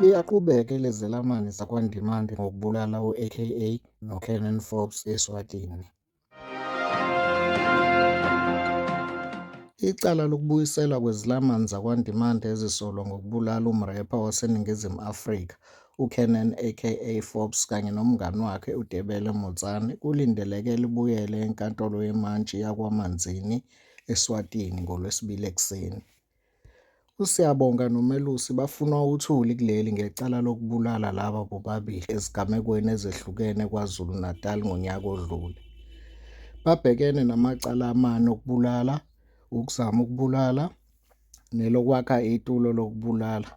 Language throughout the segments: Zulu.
Liyaqhubeka ilezelamani zakwaNdimande ngokubulala u-AKA noCanon Forbes eSwatini. Icala lokubuyiselwa kwezilamani zakwaNdimande ezisolwa ngokubulala umrepha waseNingizimu Afrika uKernan aka Forbes kanye nomngani wakhe uDebele Motsane kulindeleke libuyele eNkantolo yeMantshi yaKwaManzini, eSwatini ngoLwesibili ekuseni. USiyabonga noMelusi bafunwa uthuli kuleli ngecala lokubulala laba bobabili ezigamekweni ezehlukene KwaZulu-Natal ngonyaka odlule. Babhekene namacala amane okubulala, ukuzama ukubulala nelokwakha itulo lokubulala.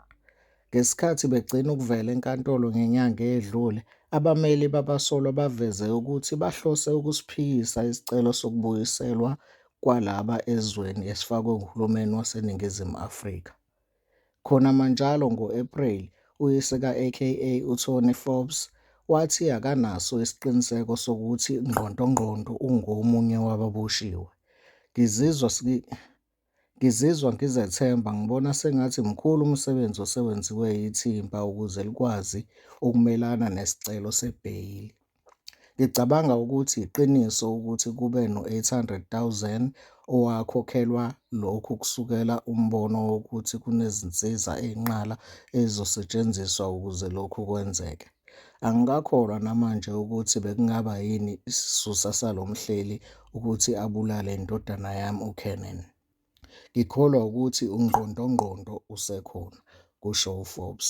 Ngesikhathi begcina ukuvela enkantolo ngenyanga eyedlule, abameli babasolwa baveze ukuthi bahlose ukusiphikisa isicelo sokubuyiselwa kwalaba ezweni esifakwe nguhulumeni waseNingizimu Afrika. Khonamanjalo, ngo-Ephreli, uyise ka-AKA, uTony Forbes, wathi akanaso isiqiniseko sokuthi Ngqondongqondo ungomunye wababoshiwe. Ngizizwa Ngizizwa ngizethemba ngibona sengathi mkhulu umsebenzi osewenziwe yithimba ukuze likwazi ukumelana nesicelo sebheyili. Ngicabanga ukuthi yiqiniso ukuthi kube no-800 000 owakhokhelwa lokhu kusukela umbono wokuthi kunezinsiza eyinqala ezizosetshenziswa ukuze lokhu kwenzeke. Angikakholwa namanje ukuthi bekungaba yini isisusa salo mhleli ukuthi abulale indodana yami uKernan. Ngikholwa wukuthi ungqondongqondo usekhona, kusho uForbes.